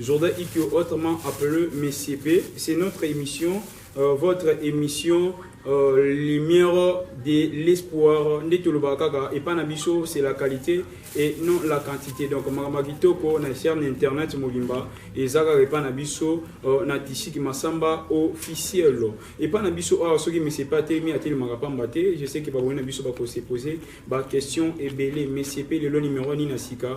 Jourdain Ikyo autrement appelé Monsieur B, c'est notre émission, euh, votre émission euh, Lumière de l'espoir. Nde tolobaka kaka epa na biso c'est la qualité et non la quantité. Donc makambo kitoko na chaîne internet mobimba eza kaka epa na biso euh, na Tishiki Masamba officiel. Epa na biso awa soki monsieur pa telemi atelemaka pamba te, je sais que baboni na biso bako se poser ba questions ebele. Monsieur P lelo numéro nini na sika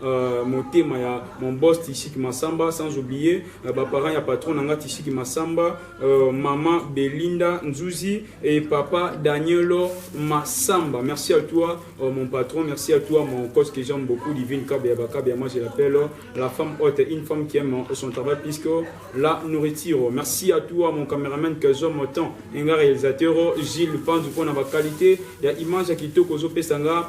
Euh, motema ya mon boss tishiki masamba sans oublier euh, baparent ya patron na nga tishiki masamba euh, mama belinda nzuzi et papa danielo masamba merci à toi euh, mon patron merci à toi mon cos que j'aime beaucoup divine kabia bakabia moi je l'appelle euh, la femme haute une femme qui aime euh, son travail puisque la nourriture merci à toi mon cameraman que j'aime autant nga réalisateur gilles panzu mpona baqualité ya image ya kitoko ozopesa nga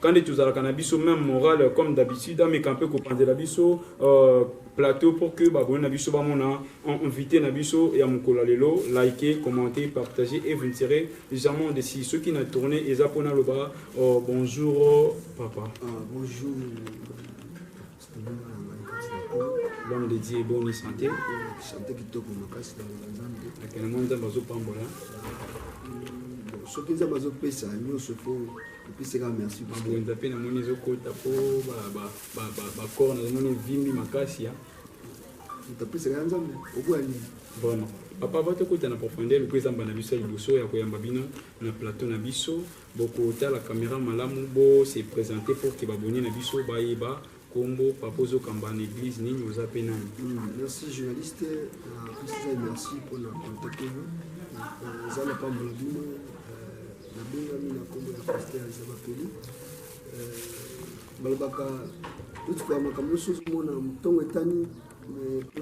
Kande tozalaka na biso même morale comme d'habitude ameka mpe kopanzela biso euh, plateau pour que baboni na biso bamona invité na biso ya mokolo ya lelo like commente partage et vous ne serez jamais desi soki na tourne eza mpo naloba euh, bonjour papa ah, bonjour l'homme de Dieu bonne santé santé kitoko makasi na nzambe akena mwa nzambe azopambola soki nzambe azopesa nyonso po opesaka merci mabwenza mpe namoni ezokota mpo bakor nazomoni evimbi makasi ya moto apesaka ya nzambe okoya nini vraiment papa ava tokota na profondeur mpo ezamba na biso ya liboso ya koyamba bino na plateau na biso Boko tala camera malamu bo se presenter pour que ba abonnes na biso ba yeba kombo papa ozo kamba na eglise nini oza pe nani. Mm, merci journaliste na pesa merci pour na contacter vous. Euh, Zana pa mbulabino na bengami na kombo ya pasteur Zabapeli. Euh, balobaka totukaa makambo nyonso ozomona ntongo etani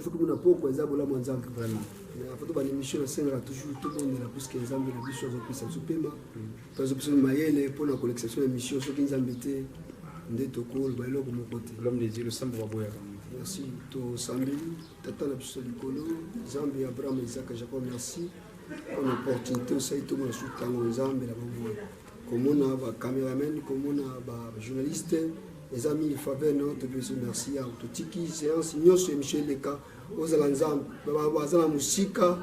Faut que na poko eza bolamu ya Nzambe vraiment. Na foto ba émission nasengaka toujours tobondela puisque Nzambe na biso azopesa biso pema to azopesa biso mayele mpo na kolekisa biso na émission soki Nzambe te nde tokoloba eloko moko te. L'homme des yeux losambo baboyaka. Merci tosambeli tata na biso likolo Nzambe ya Abraham, Isaac, Jacob merci mpo na opportunité osali tomona suki yango Nzambe na bomoi komona ba cameraman komona ba journaliste eza mingi faveur na yo topesi merci ya totiki séance nyonso émission eleka ozala nzambe baza na mosika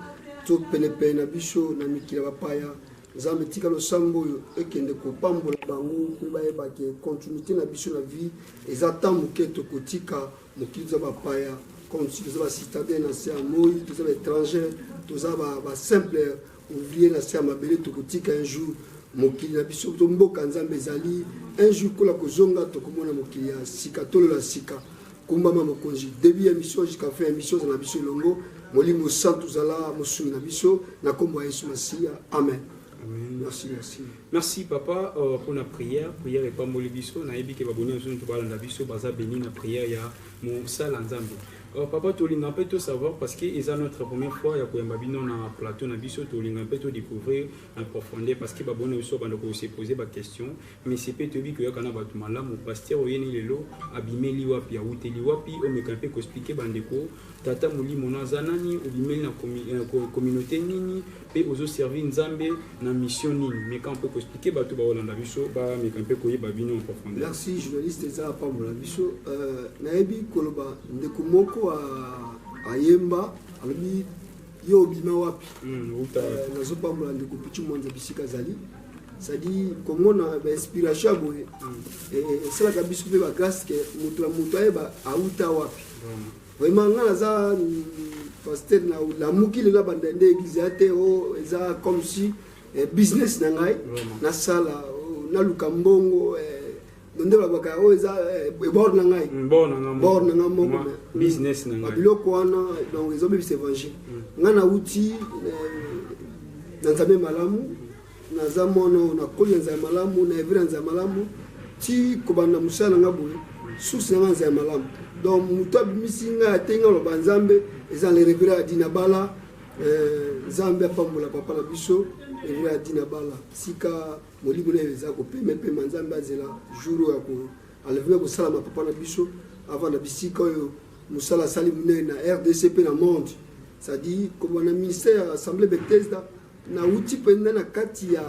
to penepene na biso na mikili ya bapaya nzambe tika losambo oyo ekende kopambola bango mpe bayebake continuité na biso na vie eza ntan moke tokotika mokili toza bapaya comme si toza bacitadin na se ya moi toza baétranger toza basimple ouvrier na se ya mabele tokotika un jour mokili na biso to mboka nzambe ezali un jour kola kozonga tokomona mokili ya sika tolo ya sika kumbama mokonzi début ya mission jusqu'à fin ya mission eza na biso elongo molimo santu zala mosungi na biso na nkombo ya yesu masiya amen merci merci Merci papa uh, pour la prière. Prière est pas moli biso. Na yebi ke baboni biso to balanda biso baza béni na prière ya mosala Nzambe. Uh, papa tolinga mpe to savoir parce que eza notre première fois ya koyamba bino na plateau na biso tolinga mpe to découvrir en profondeur parce que baboni biso banda ko se poser ba question mais c'est pe toyebi koyaka na bato malamu pasteur oyeni lelo abimeli wapi awuteli wapi omeka mpe koexplike bandeko Tata molimo naza nani obimeli na euh, communauté nini pe ozo servir nzambe na mission nini meka mpe koexplike bato baolanda biso bameka mpe koyeba bino en profondeur merci journaliste eza apambola biso euh, nayebi koloba ndeko moko ayemba alobi yo obima wapi hmm, euh, nazopambola ndeko pichu mwanza bisika azali c'est-à-dire komona bainspiration ya boye hmm. esalaka biso mpe bagrâce ke moto ya moto ayeba auta wapi vraiment nga naza pasteur na lamuki lelo abanda nde eglise ya te o oh, eza comme si eh, business na ngai nasala oh, naluka mbongo eh, nde babaka oyo oh, eza eh, bor na ngai mm, bor na ngai moko biloko wana donc ezobebisa évangile mm. nga nauti na nzambe malamu naza mwana oyo nakoli na nzala malamu na evi na nzala malamu ti kobanda mosala na nga boye source na nga nzala malamu donc moto abimisi ngai ateyi ngai aloba nzambe eza na revera ya dina bala eh, nzambe apambola papa na biso revera ya dina bala sika molimo naye eza kopemepema nzambe azela jour oyo ako alevela kosalama papa na biso avant na bisika oyo mosala asali monene na rdc mpe na monde c'est-à-dire kobanda ministère ya assemblée bethesda Na wuti penza na kati ya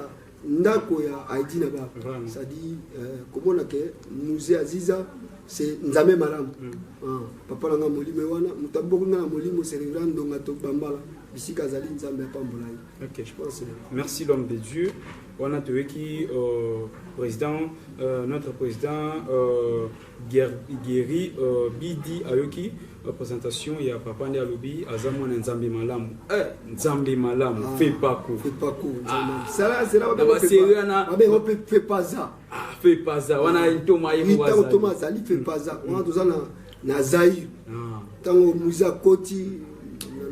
ndako ya Heidi na ba ça dit euh, komona ke musée Aziza c'est nzambe malamu mm. ah, papa na nga molimo wana moto aboki nga na molimo c'est reverend ndonga to bambala bisika azali nzambe apambola ye okay. je pense merci l'homme de Dieu wana toyoki euh, président euh, notre président euh, Guerry euh, Bidi ayoki euh, présentation ya papa nde alobi aza mwana nzambe malamu eh, nzambe malamu ah, fepaku fepaza wana ah. ntoma ye ntoma azali fepaza hmm. wana toza na zaire ntango ah. moise akoti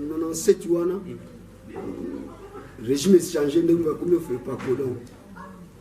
na 97 wana hmm. régime echange ndenge bakomi fepaku donc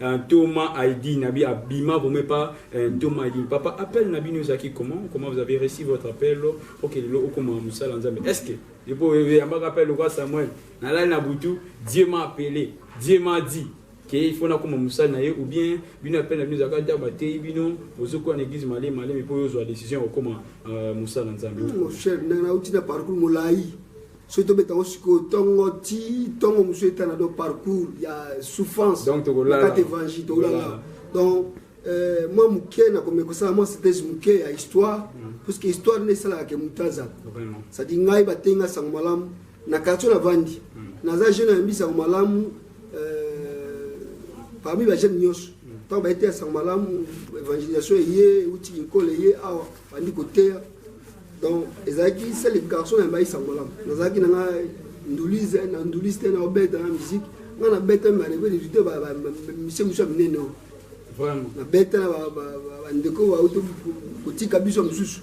Euh, Ntoma Aidi Nabi Abima Bome pas euh, Ntoma Aidi Papa appel Nabi nous acquis comment comment vous avez reçu votre appel ok le loko ma musala nzambe est-ce que et pour y a pas appel quoi Samuel na la na butu Dieu m'a appelé Dieu m'a dit que il faut na comme musala na ye ou bien bino appel na bino akata ba te bino bozo ko na église malé malé mais pour yo zo décision au comment euh, musala nzambe mon cher na na uti na parcours molai soki tobeta ngo sikoyo ntongo ti ntongo mosusu etana donc parcours ya souffrance kati évangile tokolala donc euh, mwa moke nakomi kosala mwa synthèse moke ya histoire mm. parce que histoire nde esalaka ke moto aza sadi ngai bateyi nga sango malamu na quartier navandi mm. naza jeune ayambi sango malamu euh, parmi bajeune nyonso ntango mm. bayeteya sango malamu évangélisation eye euti kinkole eye awa bandi koteya donc ezalaki sele garçon ya mbaisa malamu nazalaki na nga ndulise na ndulise te na obeta na musique nga na beta bandeko edute misie mosusu ya minene oyo na beta na bandeko bauti kotika biso ya mosusu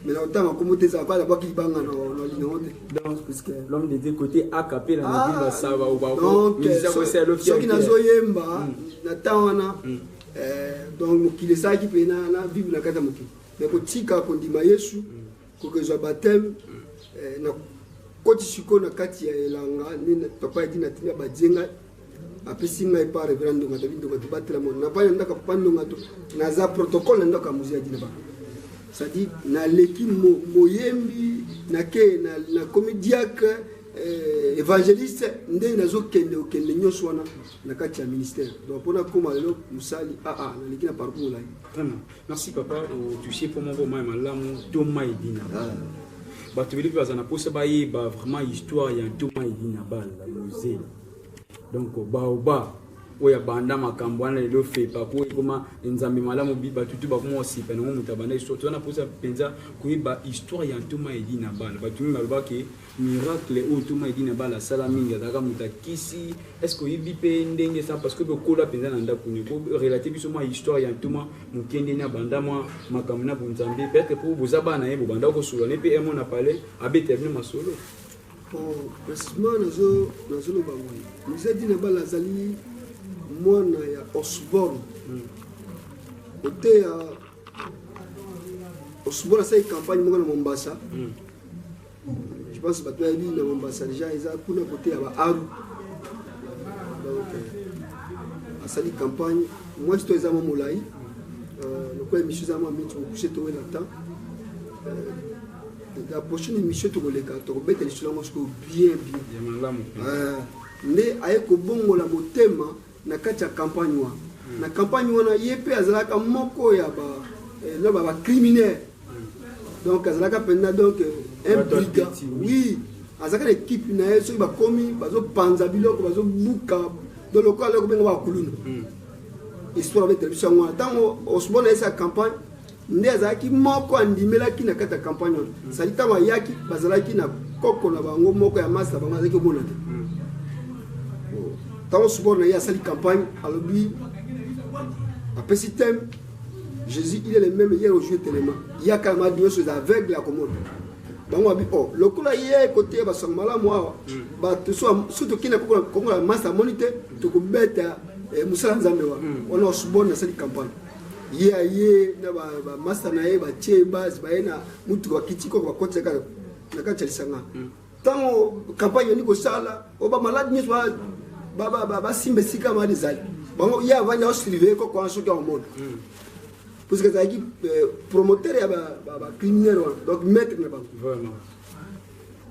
mais na kotanga kombo te ezala kala bwaki libanga na linango te l'homme de dieu côté akape na mobili ah, basaba obasoki nazoyemba hmm. na temps wana hmm. eh, donc mokili esalaki mpe na vibre na kati ya mokili me kotika kondima yesu kokezwa bateme eh, na koti sikoyo na kati ya elanga nde papa yaki na tina badie ngai apesi ngai pa reverend ndonga david ndonga tobatela moto na pai na ndako papa ndonga to naza protocole na ndako ya mozi yaki na bango cestadi naleki moyembi nake nakomi diacre eh, évangéliste nde nazokende okende nyonso wana na kati ya ministère donc mpona koma lelo mosali aa ah, ah, naleki na parcours molai Merci papa otouche po moko mai malamu to mai dina ah. bato ebele mpe baza na mposa bayeba vraiment histoire ya to mai dina bala mose donc baoba oyo abanda makambo wana lelo fepa po ekoma nzambe malamu bato tu bakoma kosipa nango moto abanda histoire toza na mposa mpenza koyeba histoire ya ntoma edi na bala bato mingi balobaki Miracle oyo toma edi na bala asala mingi azalaka moto ya kisi est ce que oyebi mpe ndenge sa parce que obe okola mpenza na ndako ne korelate biso mwa histoire ya ntoma mokende na banda mwa makambo na bonzambe peut-être mpo boza bana na ye bobanda kosola ne mpe emo na palais abeta bino masolo basima nazoloba boye musée edi na bala azali mwana ya osborne hmm. oteya osborne asali campagne moko na mombasa mm. Je pense bato bayebi na Mombasa deja eza kuna kote ya baaru donc euh, asali campagne mwasi to eza mwa molai euh, lokola émission eza mwa mingi tokokuse towela temps euh, la prochaine émission tokoleka tokobeta lisolo yango sikoyo bien bien nde aye kobongola motema na kati ya campagne wana hmm. na campagne wana ye mpe azalaka moko ya ba eh, loba ba criminel hmm. donc azalaka mpenza donc eh, un brigand oui azalaka na ekipe na ye soki bakomi bazopanza biloko bazobuka do lokola loko benga bakuluna hmm. histoire betela biso yango wana ntango osbona yesa campagne nde azalaki moko andimelaki na kati ya campagne wana mm. sali ntango ayaki bazalaki na koko na bango moko ya masta bango azalaki omona te mm. oh. ntango support na ye asali campagne alobi apesi teme jésus il est le même hier aujourd'hui telema yaka ma nyonso eza aveugle ya komona bango abi o oh, lokola ye koteya basango malamu awa mm. bato so tokende kongo ya masta amoni te tokobeta eh, mosala nzambe wana wana osubone asali campagne ye aye na bamasta na ye batie base baye na mutu bakiti koko bakotisa kaka na kati ya lisanga ntango hmm. campagne yandi kosala o bamalade nyonso basimba esika mali ezali bango ye avandi aosurveille koko wana soki aomona hmm. parce que azalaki euh, promoteur ya bacriminel wana donc maître na bango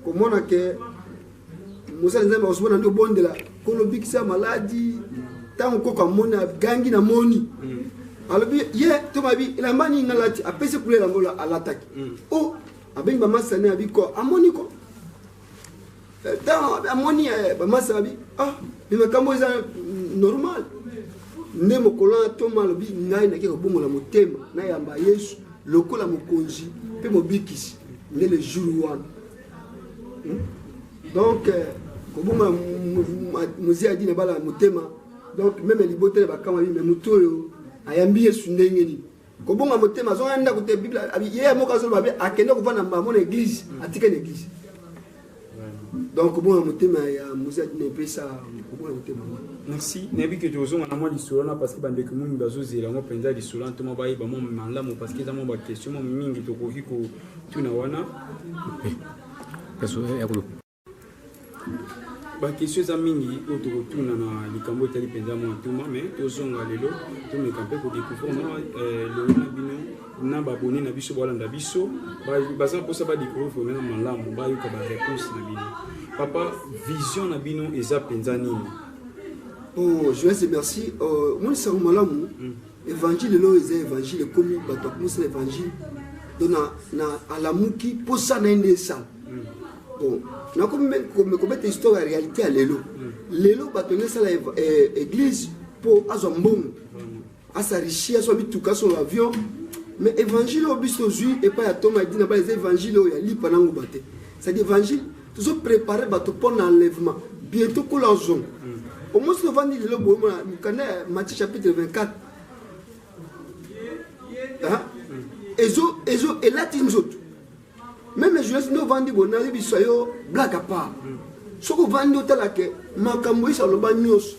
komona ke mosali nzambe akosuba na nde obondela kolo bikisa maladi ntango koko amoni agangi na moni mm. alobi ye to babi elamba nini nalati apesi kula elamba oyo alataki mm. o oh, abengi bamasa ne abi ko amoni ko eh, ntango amoni eh, bamasa abi ah me makambo eza normal nde mokolo wana ntoma alobi ngai nake kobongola motema nayamba yesu lokola mokonzi mpe mobikisi nde le jour wana hmm? donc euh, koboma mozi adi na bala motema donc meme libota ya bakama bime moto oyo ayambi yesu ndenge nini kobonga motema azonga ndako te bible ye moko azoloba be akende kovanda mbamo na eglise atika na eglise donc kobonga motema ya mozali na epesa kobonga motema merci nayebi ke tokozonga na mwa lisolo na parce que bandeko mingi bazozela yango mpenza lisolo na ntoma bayeba mwa malamu parce que eza mwa baquestion mwa mingi tokoki kotuna wana bakestion eza mingi oyo tokotuna na likambo etali mpenza mwa ntoma mais tozonga lelo tomeka mpe kodecouvrir mwa euh, lelo na bino na ba abonné na biso balanda biso baza posa ba découvrir vraiment na malamu bayoka ba réponse na bino papa vision na bino eza penza nini oh joyeux merci euh, moi sango malamu mm. évangile lelo eza évangile ekomi bato akomosala évangile donc na, na alamuki posa na ye nde esala mm. bon nakomi kobeta histoire ya réalité ya lelo mm. lelo bato nde esala eh, église mpo azwa mbongo mm. asarishi aswa bituka aso na avion mais évangile oyo biso tozwi epai ya toma edina bala eza évangile oyo ya lipa na nguba te cestadi évangile tozo prépare bato mpo na enlèvement bientôt kola ozongo omosi tovandi lelo boyemona mokanda ya matthieu chapitre 24 ezo ezo elati nzoto meme journaliste nde ovandi boye nayebisa yo black apart soki ovandi otalake makambo yesa aloba nyonso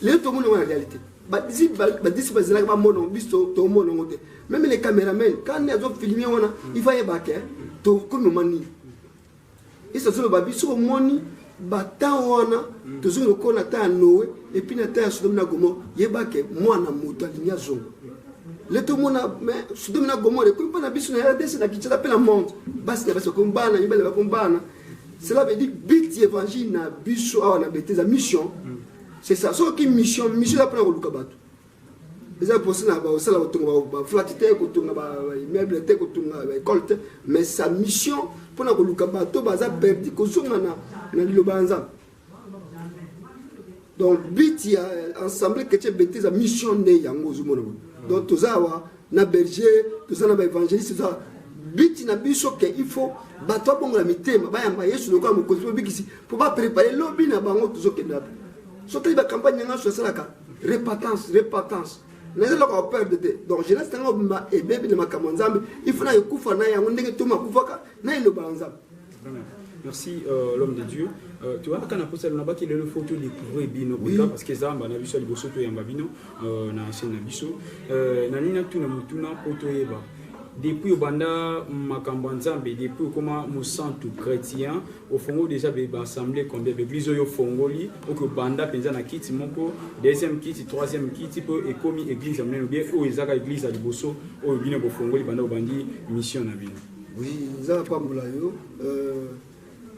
lelo tomoni yango na réalité badisi bazalaki bamona biso tomona yango te meme le cameraman kani azofilme wana mm. ifa yeba ke tokomi moma nini esi azoloba biso omoni batemp wana mm. tozongi lokola na temps ya noe epuis na temps ya sodomi na gomor yeba ke mwana moto alingi azonga le tomona me sodomi na gomor ekomi mpo na biso na rdc na kinshasa mpe na monde basi na basi bakomi bana mibale bakomi bana cela veut dire but ya évangile na biso awa na beteza mission c'est ça soki mission mission eza mpona koluka bato eza mposa na kosala kotonga baflate te kotonga baimmeuble te kotonga baekole te mais sa mission mpona koluka bato baza perdi kozonga na liloba ya nzambe donc but ya ensemble chrétien bete eza mission nde yango ozomona boye donc toza awa na berger toza na baévangéliste toza but na biso ke il faut bato babongola mitema bayamba yesu lokola mokonzi mobikisi mpo baprépare lobi na bango tozokende wapi soki bacampagne yanga nyonso esalaka repatance repatance naza eloko ya perde te donc jeunesse nanga obima ebebi na makambo ya nzambe il faut na ekufa na yango ndenge toma akufaka na elobala nzambe Merci euh, l'homme de Dieu. Euh, tu vois, quand on a posé le qui est le photo de Kouré Bino, oui. parce que Zamba, on a vu ça, le bosso, tu es en babino, euh, on a acheté un abisso. Euh, Nanina, tu n'as pas na poto eba. Depuis Obanda, Makamba Nzambe, depuis comment Moussantou chrétien, au Fongo déjà, il va assembler combien de blizo yo Fongoli, au que Banda, Penza na kiti, mon po, deuxième kiti, troisième kiti, po, et comme église, amène bien, ou Ezaka église à Libosso, ou Bino Fongoli, Banda Obandi, mission na Bino. Oui, nzala pambola yo. Euh,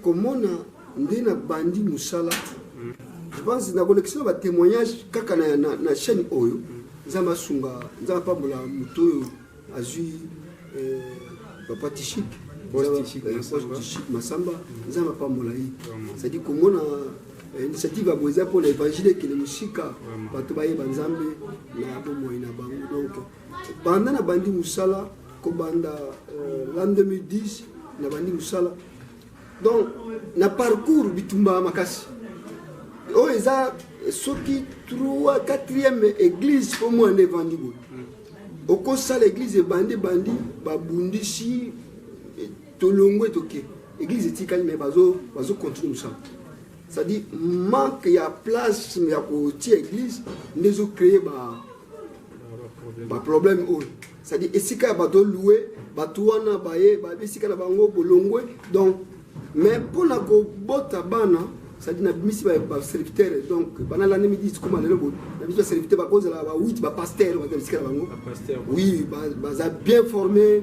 komona nde na bandi musala. Mm. Je pense na kolekisa ba témoignages kaka na, na, na chaîne oyo. Mm. Nzala masunga, nzala pambola moto oyo azui euh, papa Tishik. Tishik Masamba, nzala mapambola ye. C'est-à-dire komona eh, initiative ya boye eza mpo na évangile ekende mosika bato bayeba nzambe na bomoi na bango donc banda na bandi musala kobanda euh, l'an 2010 na bandi musala donc na parcours bitumba makasi oyo oh, eza soki 3 4e église mpo mwana evandi boye okosala église ebandi ebandi babundisi eh, tolongwe toke église etikali mai bazocontinue mosala c'est-à-dire manque ya place ya kotia église nde ezocreye ba ba problème oyo c'est-à-dire esika ya bato oloue bato wana baye esika na bango bolongwe donc mais mpona kobota bana c'est-à-dire nabimisi baserviteur donc bana lande midi tikoma lelo bo na biso baserviteur bakozala ba 8 bapaster baza bisika na bango oui baza bien formé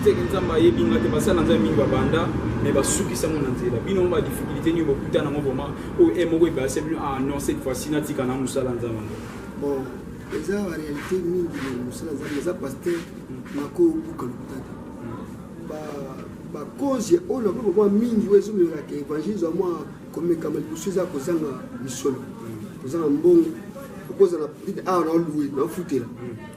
Teke nzambe ayebi nga te basala nzambe mingi babanda me basukisa ngo na nzela bino mo badifficulté nini bokuta nango vraimen oyo e moko ebase bino ah non cette fois ci natika na mosala nzambe yango bon eza baréalité mingi na mosala nzambe eza paster nakobuka lokuta te bakonzi oyo na mpe mwa mingi oyo ezomelaka évangile zwa mwa komekama liboso eza kozanga misolo kozanga mbongo okozala awa na olue na ofutela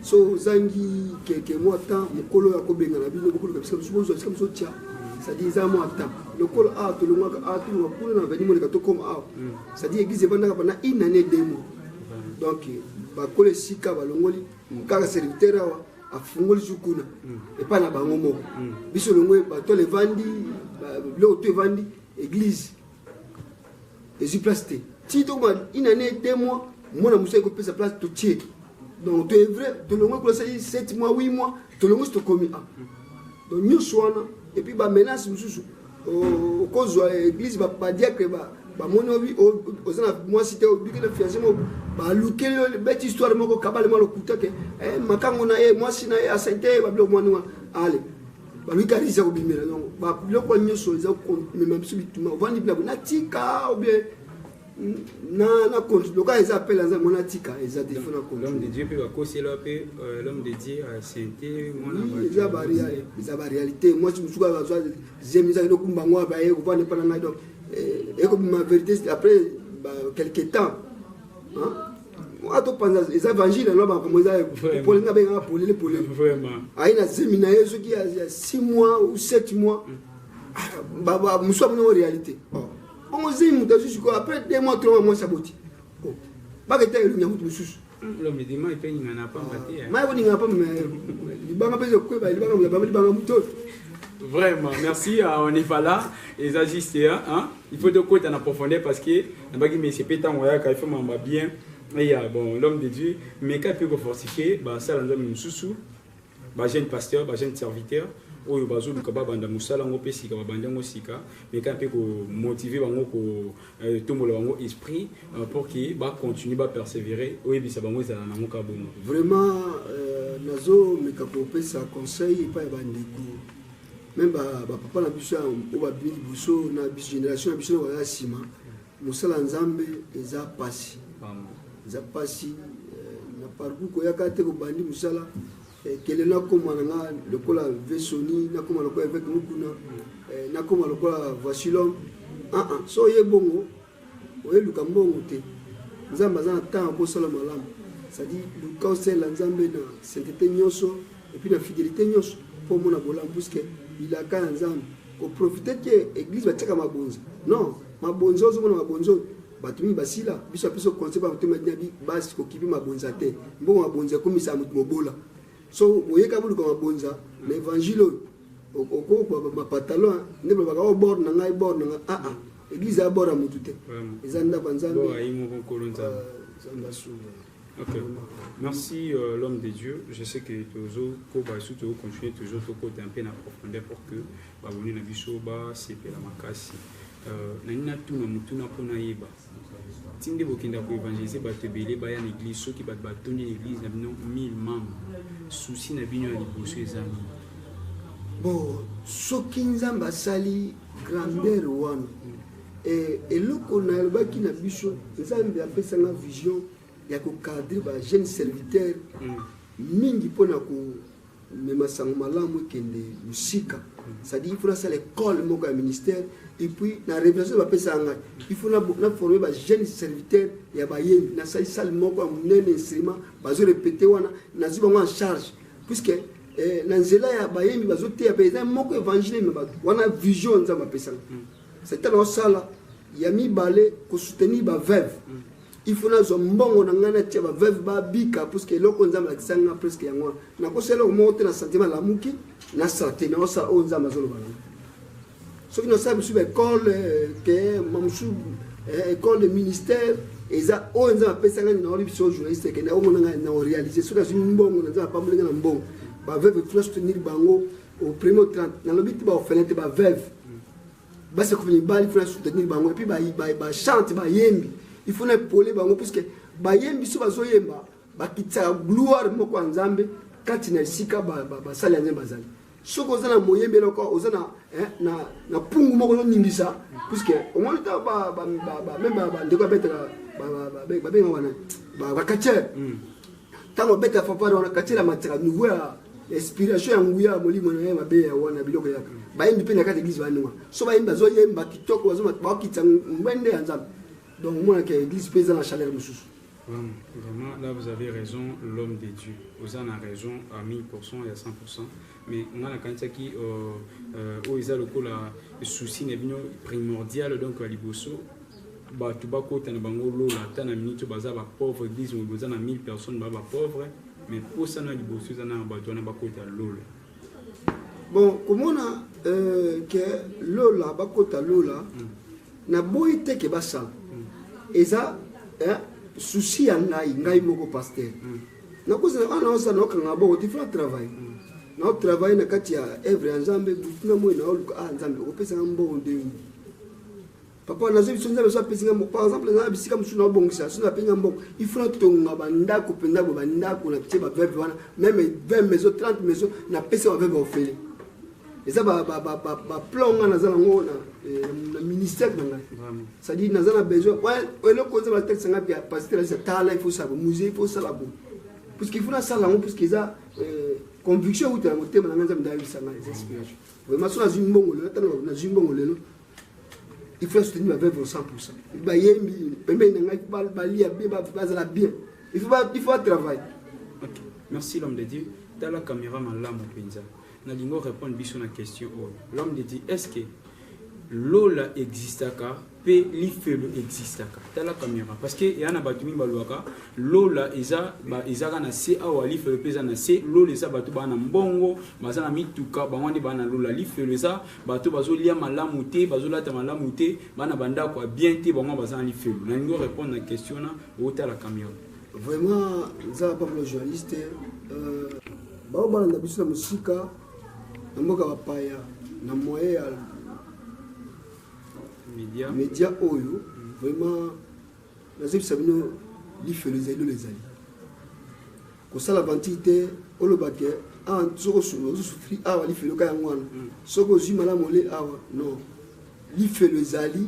so ozangi keke mwa temps mokolo ya kobengana bino bokoluka bisika mosusu bozwa bisika mosusu tya c'est-à-dire eza mwa temps lokola awa tolongwaka awa tolonga kuna na veni moleka tokoma awa mm. c'est-à-dire église evandaka bana une année deux mois mm. donc bakolo esika balongoli mm. kaka serviteur awa afungoli su kuna epai na bango moko biso longo bato levandi biloko to evandi église ezwi place te ti tokoma une année deux mois mwana mosusu ekopesa place totie donc toye vrai tolongwe kuna sali 7 mois 8 mois tolongwe si tokomi a donc nyonso wana epuis bamenace mosusu okozwa église badiacre bamoni obi oza na mwasi te obiki na fiance moko balukeli yo beti histoire moko kabale mwa lokuta ke eh, makango na ye mwasi na ye asaite ye babiloko mwani wana ale balobi kaka eza kobimela yango babiloko wana nyonso eza komema biso bituma ovandi bilabo natika obie na konti loka eza apela nza mona tika eza te fona kontihomme de dieu mpe bakosela mpe euh, l'homme de dieu asente eza baréalité mwasi mosusu kaka azwa zemi ezaki lokumba yango abaye kovanda epa na ngai donc ekobima vérité après quelque temps atopanza eza evangile aloba makambo eza polele nga bengaka polele polele aye na zemi na ye soki ya 6 mois ou 7 mois mosusu amonango réalité bongo zemi moto azwi sikoyo après 2 mois 3 mois mwasi aboti baketa elongi ya moto mosusu mai koningana pa libanga mpe ezokweba libanga mozabama libanga moto oyo vraiment merci euh, on n'est pas là eza juste hein, hein? il faut tokota na profondeur parce que nabaki mesi mpe ntango ayaka il faut mamba bien eya bon l'homme de dieu meka mpe kofortifie basala nzambe mosusu bajeune pasteur bajeune serviteur oyo bazoluka babanda mosala yango mpe sika babandi yango sika meka mpe komotive bango kotombola euh, bango esprit euh, pour ke bacontinue bapersévere oyebisa bango ezala nango ka bongo vraiment euh, nazomeka kopesa conseil epai ya bandeko meme bapapa na biso oyo babimi liboso na biso génération na biso na baza nsima mosala nzambe eza mpasi eza mpasi eh, na parcour koyaka te kobandi mosala eh, kele nakoma na nga lokola vesoni nakoma lokola eveke mokuna eh, nakoma lokola vasilom ah, ah, so oye bongo Oye luka mbongo te nzambe aza na temps yako sala malamu ça dit luka osalela nzambe na sainteté nionso et puis na fidelité nionso po omona bolamu puisque bilaka ya nzambe ko profiter te église batiaka mabonza non mabonza ozomona mabonza oyo bato mingi basila biso apesi oconse ba motema dina bi basi kokipi mabonza te mbongo mabonza ekomisa moto mobola so oyeka boluka mabonza na evangile oyo okokwa bapatalon nde babaka o bord na ngai bord na ngai aa ah, ah. eglise ya bord ya motu te eza ndako ya nzambe Ok. Merci euh, l'homme de Dieu. Je sais que Tozo Koba et Souto continuer Tozo Toko un peu en profondeur pour que Baboni Nabisoba, c'est la Makasi. Euh, Nani na tuna mutuna pona yeba. ti nde bokenda ko évangéliser bato ebele baya na église soki bato batondi na église na bino 1000 membres souci na bino ya liboso eza nini bo soki nzambe asali grandeur wana eh, eloko nalobaki na biso nzambe apesanga vision ya kokadre ba jeune serviteur mm. mingi mpo na ko mais masango malamu ekende mosika c'est-à-dire il faut nasala école moko ya ministère et puis na révélation bapesaka ngai il faut naforme bajeune serviteur ya bayembi nasali sale moko ya monene instrument bazo répété wana nazwi bango en charge puisque eh, na nzela ya bayembi bazoteya mpe eza moko évangile me bato wana vision nzambe apesaka mm. c'est ntango osala ya mibale kosoutenir baveuve mm. il faut nazwa mbongo na ngai natia baveuve babika puiske eloko nzambe alakisa ngai presque yango wana nakosa eloko moko te na sentime alamuki nasala te naosala oyo nzambe azoloba nanga soki nasala mosusu baekole euh, te mamosusu euh, école de ministère eza oyo nzambe apesa ngai naoli biso journaliste ekende omona ngai na orealise soki azwi mbongo na nzambe apamboli ngai na mbongo baveuve kuna soutenir bango au premier 30 nalobi te baofele te baveuve basi kufa mibali funa soutenir bango epuis bachante bayembi ifuna epole bango puiske bayembi so bazoyemba bakitisaka gloire moko ya nzambe kati na esika basali ya nzambe bazali soki oza na moyembi eloko oza na eh, na na pungu moko ozoningisa puiske omoni ta meme bandeko babetaka babengaka wana bakacher Tango beta fanfare wana kati la matira niveau ya inspiration ya nguya ya molimo na ye mabe ya wana biloko ya bayembi mpe na kati eglise baninga so bayembi bazoyemba kitoko bakokitisa ngwende ya nzambe donc omonaka eglise mpe eza na chaleur mosusu Vraiment, là vous avez raison, l'homme de Dieu. Vous en avez raison à 1000% et à 100%. Mais on a la candidature qui, euh, euh, où ils ont le coup, la souci n'est primordial, donc à Liboso, batu bakota na bango lola ata na minute oyo baza bapauvre eglise mobimba eza na 1000 personnes baa bapauvre mais mposa na liboso eza na bato wana bakota lola bon komona euh, ke lola bakota lola mm. naboyi te ke basala mm. eza eh, susi ya ngai ngai moko paster mm. nakozala wana osala naokanga boko tifla travail mm. naotravaille na kati ya evre ya nzambe butu na moi naoluka ah nzambe okopesanga mbongo nde papa nazo biso nzambe so apesi ngai par exemple naza na bisika mosusu naobongisa so nape ngai mbongo il faut natonga bandako mpenza bo bandako na tie baveve wana meme 20 maison 30 maison napesa baveve ofele eza baplan ngai naza nango na eh, ministère na ngai cestadire naza na besoin eloko nzambe atalisa ngai pia pasteur alisa tala il faut sala bo musée il faut sala bo puisque il faut nasala yango puisque eza eh, conviction euta na motema na ngai nzambe ndayebisa ngai eza inspiration vraiment so nazwi mbongo lelo ntango nazwi mbongo lelo il faut soutenir ba veuve 100% bayembi pembeni na ngai faut balia bien bazala bien il faut il faut travail ok merci l'homme de Dieu tala caméra malamu mpenza nalingi orépondre biso na question oyo l'homme de Dieu est-ce que lola existaka mpe lifelo existaka tala kamera parce que eya na bato mingi balobaka lola eza ezaka na se awa lifelo mpe eza na se lola eza bato baa na mbongo baza na mituka bango nde baa na lola lifelo eza bato bazolia malamu te bazolata malamu te bana bandako ya bien te bango baza na lifelo nalingi orépondre na question na otala cameron vraiment nzala pamela journaliste euh, bao balanda biso na mosika na mboka bapaya na moyen ya media, media oyo vraiment nazebisa bino lifelo ezali lola ezali kosala aventure te oloba ke awa soki osufri awa lifelo ka yango wana mm. soki ozwi malamu ole awa non lifelo ezali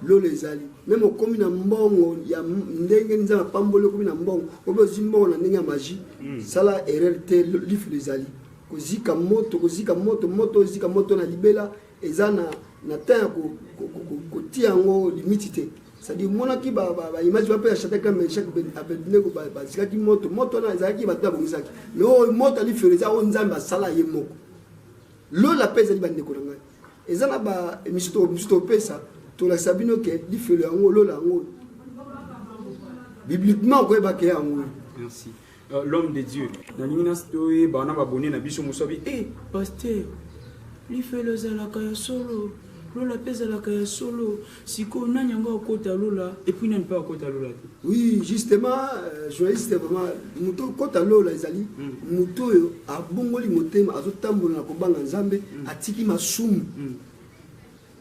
lola ezali meme okomi na mbongo ya ndenge nzambe apamboli okomi na mbongo obe ozwi mbongo na ndenge ya magie mm. sala erreur te lifelo ezali kozika moto kozika moto moto ozika moto na libela eza na na temps ya kotia yango limiti te cestadire monaki baimage bape ya chata kame chak abednego bazikaki moto moto wana ezalaki bato babongisaki me oyo moto ali fere eza oyo nzambe asala ye moko lola mpe ezali bandeko na ngai eza na baemission mosusu topesa tolakisa bino ke lifelo yango lola yango bibliquement okoyebake yango merci Euh, l'homme de Dieu. Nalingi na stoye bana babone na biso mosabi. Eh, pasteur, lifelo ezalaka ya solo. Lola mpe ezalaka ya solo. Sikoyo nani yango akota lola epuis nani mpe akota lola te? Oui, justement, euh, journaliste vraiment moto okota lola ezali hmm. moto oyo abongoli motema azotambola na kobanga Nzambe hmm. atiki masumu. Hmm.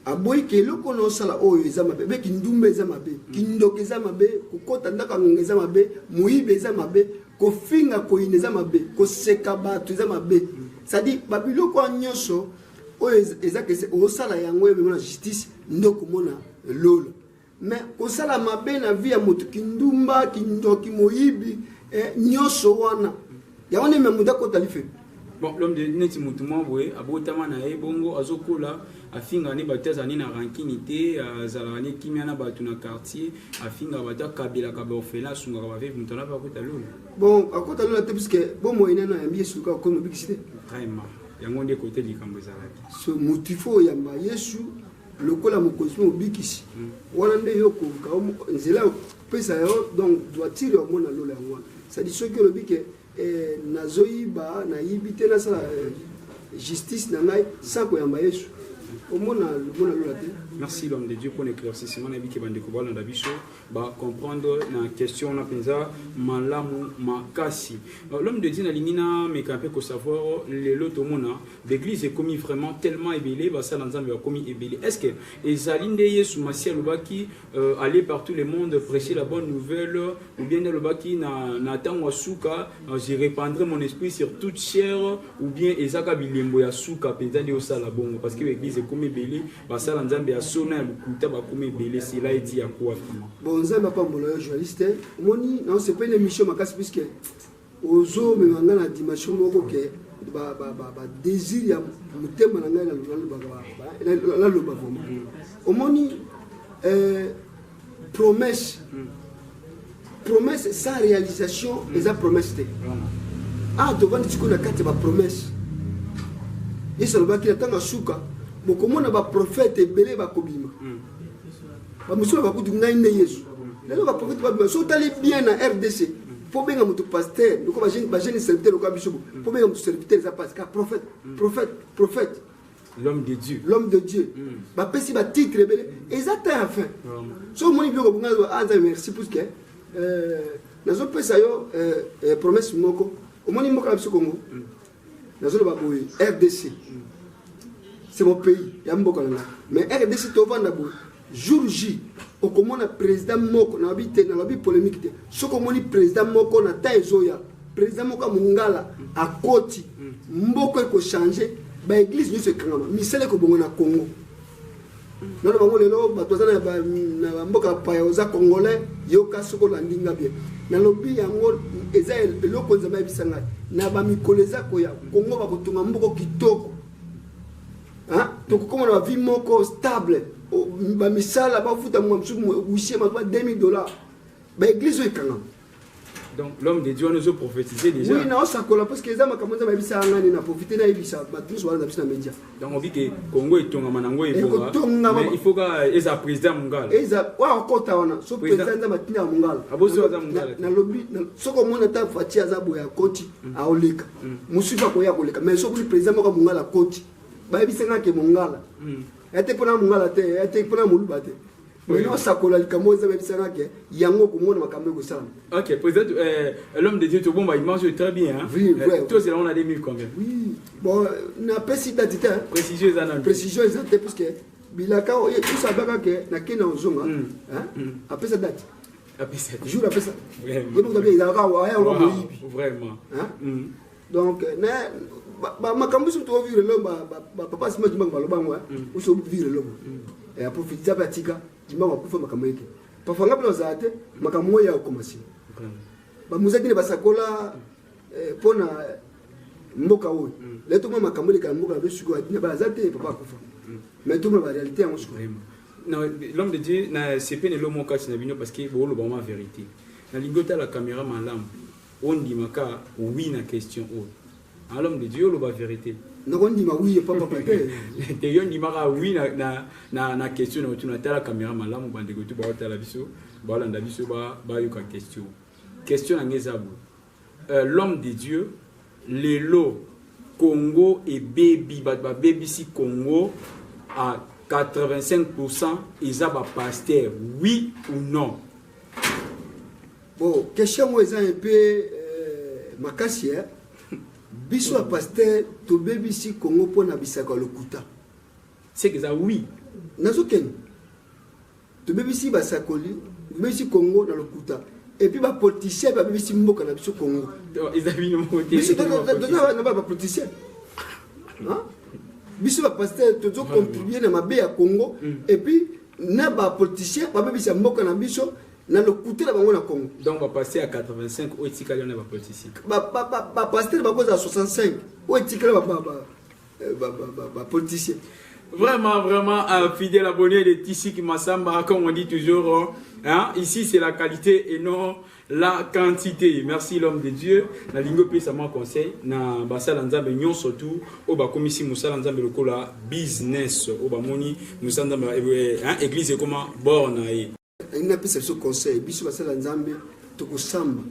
aboyi ke eloko na osala oyo eza mabe be kindumba eza mabe mm. kindoka eza mabe kokota ndako ya ngonga eza mabe moyibi eza mabe kofinga koyina eza mabe koseka bato eza mabe cestadire babiloko wana nyonso oyo eza kese osala yango emema na justice nde okomona lola Mais kosala mabe na vie ya moto kindumba kindoki moyibi eh, nyonso wana yango nde me moto akota life bon l'homme de neti motu mwa boye abotama na ye bongo azokola afingaka nde bato azali na rankini te azalaka nde kimia na bato na quartier afingaka bato akabelaka baorphelin asungaka baveve moto anape akota lola bon akota lola te puiske bomoi nano ayambi yesu kaka komi obikisi te vraiment yango nde kote likambo ezalaki so motifo oyamba yesu lokola mokonzi mpe mobikisi wana nde yo koluka nzela ya kopesa yo donc droitire yango na lola yango wana sadi soki olobi ke eh, nazoyiba nayibi te nasala eh, justice na ngai sa koyamba yesu omona lomona lola te merci l'homme de dieu mpo na éclaircissement na yebike bandeko balanda biso ba comprendre na question wana mpenza malamu makasi l'homme de dieu nalingi nameka mpe kosavoir oh, lelo tomona l'église ekomi vraiment tellement ebele basala nzambe bakomi ebele est ce que ezali nde yesu masi alobaki euh, aller par tout le monde prêcher la bonne nouvelle ou bien nde alobaki na, na ntango ya suka euh, je répandrai mon esprit sur toute chair ou bien ezaka bilembo ya suka mpenza nde osala bongo parce que l'église ekomi ebele basala nzambe ya sona ya lokuta bakoma ebele sila eti ya kuafi bon nzambe apambola yo journaliste omoni naosepeli émission makasi puiske ozomema ngai na dimension moko ke badésir ya motema na ngai naloba vraiment omoni euh, promesse promesse sans réalisation eza promesse te awa ah, tovandi sikoyo na kati ya bapromesse yesu alobaki na ntango ya suka bokomona baprofete ebele bakobima hmm. bamosusu bakutu ngai nde yesu lelo baprofete babima so otali bien na rdc mpo hmm. benga moto paster loko bagene serviteur lokola biso mpo hmm. benga moto serviteur eza pasi ka prophète prophète prophète l'homme de dieu l'homme de dieu mm. bapesi batitre ebele eza ta ya fin so omoni biloko bonga anza merci puisque euh, nazopesa yo euh, euh, promesse moko omoni mboka na biso congo mm. nazoloba boye rdc mm. c'est mon pays ya mboka na nga mais rdc tovanda boye jour j okomona président moko nalobi te nalobi polémique te soki omoni président moko na temps ezoya président moko ya mongala akoti mboka ekochange baeglise nyonso ekangama misala ekobongo na congo nano bango lelo bato baza na bamboka ya paya oza congolais yoka soki olandi nga bien nalobi yango eza eloko nzambe ayebisa ngai na bamikolo eza koya kongo bakotonga mboko kitoko tokokomana bavie moko stable bamisala bafuta mwa mosusu wisie mazoba 2000 dollars baeglise oyo ekangama donc l'homme de dieu wana ezo prophétise déjà oui naosakola parce que eza makambo nzambe ayebisa ngani na profite nayebisa bato nyonso wana na biso na média donc obi ke congo etongama nango ebongaekotongama il faut ka eza président mongala eza oyo akota wana so président nzambe atinda ya mongala abosi aza mongala nalobi soki omona ata fati aza boye akoti aoleka mosusu akoya koleka mais soki président moko mongala koti bayebisa nga ke mongala hmm. ya te mpona mongala te ya te mpona moluba te osakola likambo oyo eza bayebisa nga ke yango okomona makambo ekosalama ok président euh, l'homme de dieu tobomba image oyo très bien euh, tozela ngo na 2000 combien bon napesi dati te précision eza nanu précision eza te puisque bilaka oyo etusabaka ke nakenda ozonga hmm. Hmm. apesa dati apesa toujours apesa vraiment ezalaka waya ola moyibi vraiment mm. donc euh, na makambo biso tovivre lelo bapapa sima dimbango baloba yango oso vivre lelo aprofitisa mpe atika dimbango akufa makambo yeke parfois nga mpe nazala te makambo oyo ya okoma nsima bamuzaki ne basakola mpo euh, na mboka oyo mm. lelo tokoma makambo elekala mboka na biso sikoyo na bana aza te papa akufa mm. mais tokoma barealité yango sikoyo Non, l'homme de Dieu, na sepeli lelo moko kati na bino parce que booloba ma verite. Nalingi otala kamera malamu ondimaka oui na question oyo. Ah, l'homme de Dieu oloba verite. nakondima wi epa papa te te yo ndimaka wi na, na, na, na question na otuna tala kamera malamu bandeko tu baotala biso baolanda biso bayoka ba question question na ngai eza boye Euh, l'homme de Dieu, lelo Congo ebebi, bato babebisi Congo à 85% eza ba pasteur, oui ou non? Bon, question moi eza un peu euh, makasi hein. biso ya paster tobebisi kongo mpo na bisaka lokuta seke eza wi nazokende Tobebisi basakoli, tobebisi Congo na lokuta. Et puis ba politiciens babebisi mboka na biso Congo. Eza bino moko te. Biso toza na ba politiciens. Hein? Biso ba pasteurs tozo contribuer na mabe ya Congo mm. et puis na ba politiciens babebisa mboka na biso na lokuta na bango na Congo. Donc ba passer à 85 oyo etikali na ba politiciens. Ba ba ba pasteur bakozala 65 oyo etikali ba ba bapotisi Vraiment, vraiment, un fidèle abonné de Tissi Kimassamba, comme on dit toujours, hein, ici c'est la qualité et non la quantité. Merci l'homme de Dieu. Na lingo pe ça m'a conseil na basala nzambe nyon surtout au ba komisi musala nzambe lokola business au ba moni musala nzambe eh, eh, hein, église comment borne alingi apesa biso conseil biso basala nzambe tokosamba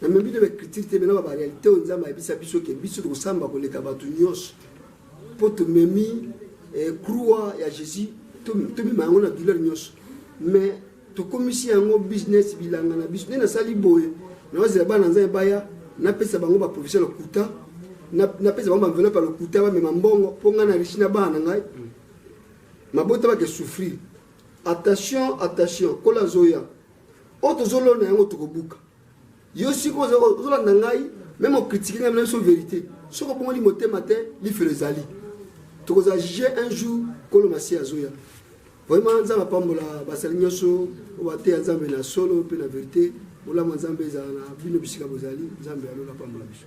na memi nde bacritique te mena babarealité oyo nzambe ayebisa biso ke biso tokosamba koleka bato nyonso mpo tomemi eh, croix ya jésus tomema yango na douleur nyonso mais tokomisi yango business bilanga na biso nde nasali boye naozela bana nzambe baya napesa bango baprofesio ya lokuta napesa bango baenvelope ya lokuta bamema mbongo mpo ngai na richi na bana na ngai mabota bake souffrir Attention, attention, kola zoya. Oyo tozolona yango tokobuka. Yo siko ozolanda ngai, meme okritike ngai biso verite. Soko bongoli motema te, lifelo ezali. Tokozala juge un jour kolo masi azoya. Vraiment nzambe apambola basali nyonso oyo bateya nzambe na solo mpe na verite. Bolamu ya nzambe ezala na bino bisika bozali. Nzambe ya lola apambola biso.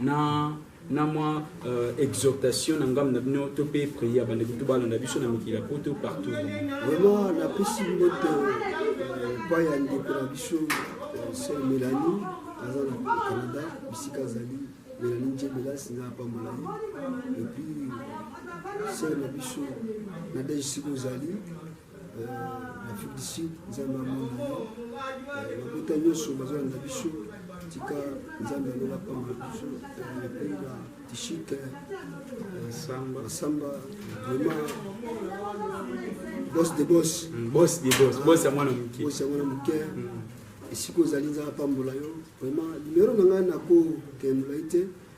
na na mwa euh, exhortation na ngambo na bino to mpe prière bandeko to balanda biso na mikili ya poto partout vraiment napesi mbote epai ya ndeko na biso sel melani aza na canada bisika azali melani njebelas nga apambola ye epuis sel na biso nadege sika ozali na afrique du sud nzambe amona yo babota nyonso bazolanda biso tika nzambe aloba pamba biso epenga tishike masamba vrema bos de bos bos de bos bos ya mwana moke bos ya mwana moke esika ozali nzambe apambola yo vrema nimero na ngai nakokendola ye te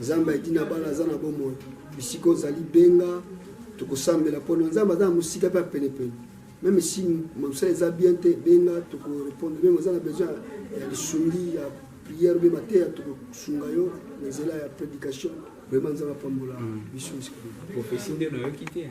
nzambe ayiki na bana aza na bomoi bisika ozali benga tokosambela mpona nzambe aza na mosika mpe penepene meme si mosala eza bien te benga tokorepondre meme oza na besoin ya lisungi ya prière mpe mateya tokosunga yo na nzela ya prédication vraiment nzambe apambola mm. biso prophesie nde nayoki te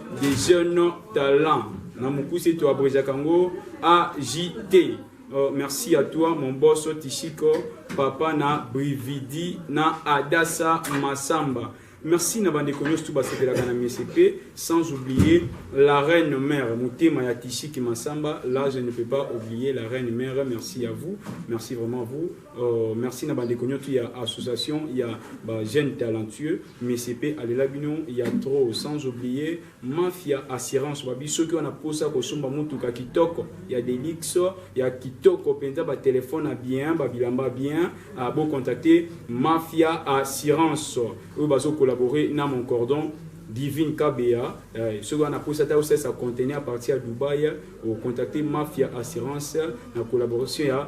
de jeunes talents na mokuse to abrejaka yango AJT. Oh, merci à toi mon boss Tishiko, papa na Brividi na Adassa Massamba. Merci na bandeko nyonso tu basepelaka na MSP, sans oublier la reine mère motema ya Tishiki Massamba. Là, je ne peux pas oublier la reine mère. Merci à vous, merci vraiment à vous. Uh, merci na bandeko nyotu ya association ya ba jeunes talentueux mcp alela bino ya trop sans oublier mafia assurance babi soki wana posa kosomba motuka kitoko ya delix ya kitoko mpenza batelefone ya bien babilamba bien uh, bocontacte mafia assurance oyo bazocollabore na mon cordon divine kabea eh, soki wana mposa ata osesa conteneur à partir ya dubai ocontacte mafia assurance na collaboration ya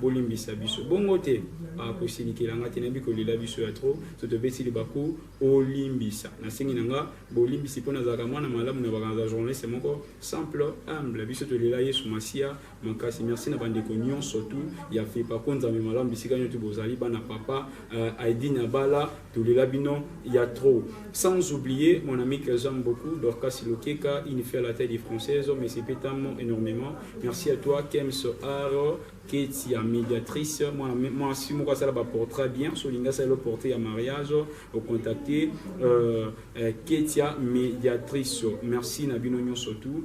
Bolimbisa biso. Bongo te. Ah, kosilikela nga te, nayebi kolela biso ya trop. So tobeti libaku, olimbisa. Nasengi na nga bolimbisi mpo nazalaka mwana malamu na bakanza journaliste moko simple, humble. Biso tolela Yesu Masiya makasi. Merci na bandeko nyonso tu ya FEPACO, Nzambe malamu bisika nyoto bozali, bana papa, uh, Aidine Abala, tolela bino ya trop sans oublier mon ami que j'aime beaucoup Dorcas Lokeka une fille à la taille française mais c'est pétamment énormément merci à toi Kems Aro Keti ya médiatrice moi moi si moko asala ba portrait bien so linga ça le porter à mariage au contacter euh, euh, Ketia médiatrice merci na bino surtout